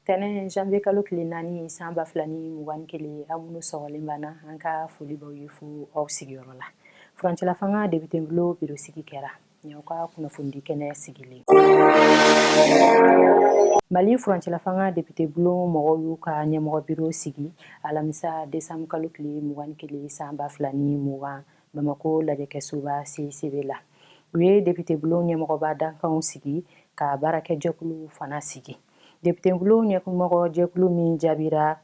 tɛnɛn janvier kalo tile naani san ba fila ni mugan ni kelen aw minnu sɔgɔlen b'an na an ka foli b'aw ye fo aw sigiyɔrɔ la furancɛlafanga depitebulon biro sigi kɛra ni aw ka kunnafonidi kɛnɛ sigilen mali furancɛlafanga depitebulon mɔgɔw y'u ka ɲɛmɔgɔ biro sigi alamisa décembre kalo tile mugan ni kelen san ba fila ni mugan bamakɔ lajɛkɛsoba CICB la u ye depitebulon ɲɛmɔgɔba dankanw sigi ka baarakɛjɛkulu fana sigi depitebulon ɲɛmɔgɔ jɛkulu min jaabira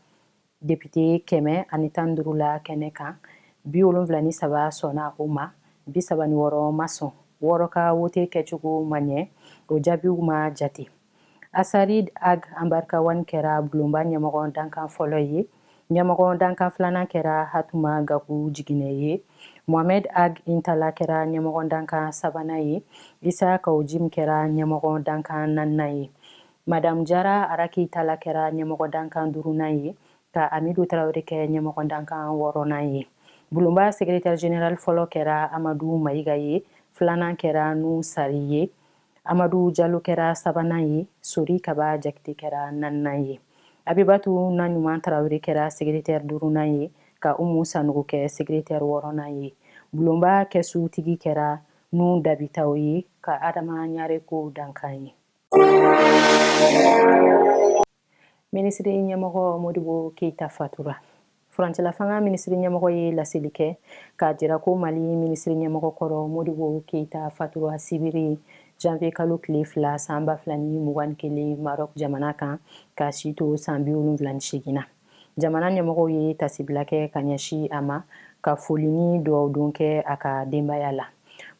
depite kɛmɛ ani tan duuru la kɛnɛ kan bi wolonfila ni saba sɔnna o ma bi saba ni wɔɔrɔ ma sɔn wɔɔrɔ ka wote kɛcogo ma ɲɛ o jaabiw ma jate Asarid Ag Ambarkawan kɛra bulonba ɲɛmɔgɔ dankan fɔlɔ ye. Ɲɛmɔgɔ dankan filanan kɛra Hatuma Gaku Jiginɛ ye. Mohamed Ag Intala kɛra ɲɛmɔgɔ dankan sabanan ye. Isa Kao Jim kɛra ɲɛmɔgɔ dankan naaninan ye. Madam Jara Araki Tala kɛra ɲɛmɔgɔ dankan duurunan ye, ka Amidu Tarawele kɛ ɲɛmɔgɔ dankan wɔɔrɔnan ye. Bulonba sekretɛri jenerali fɔlɔ kɛra Amadu Mayiga ye, filanan kɛra Nuhun Sari ye. Amadu Jalo kɛra sabanan ye, Sori Kaba Jakite kɛra naaninan ye. Abibatu Naɲuman Tarawele kɛra segeretɛri duurunan ye, ka Umu Sanogo kɛ segeretɛri wɔɔrɔnan ye. Bulonba kɛsutigi kɛra Nuhun Dabitaw ye, ka Adama Ɲare k'o dankan ye. Minisiri ɲɛmɔgɔ Modibo Keyita fatura. Furancɛlafanga minisiri ɲɛmɔgɔ ye laseli kɛ k'a jira ko Mali minisiri ɲɛmɔgɔ kɔrɔ Modibo Keyita fatura sibiri janvier kalo tile fila san ba fila ni mugan ni kelen Maroc jamana kan k'a si to san bi wolonfila ni seegin na. Jamana ɲɛmɔgɔw ye tasibila kɛ ka ɲɛsi a ma ka foli ni duwawudon kɛ a ka denbaya la.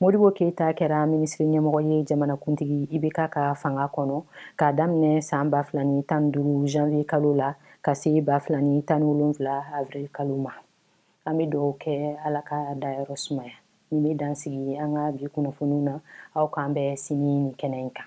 Modibo Keyita kɛra minisiri ɲɛmɔgɔ ye jamanakuntigi IBK ka fanga kɔnɔ k'a daminɛ san 2015 janvier kalo la ka se 2017 avril kalo ma. An bɛ dugawu kɛ Ala k'a dayɔrɔ sumaya. Nin bɛ dan sigi an ka bi kunnafoniw na. Aw k'an bɛn sini nin kɛnɛ in kan.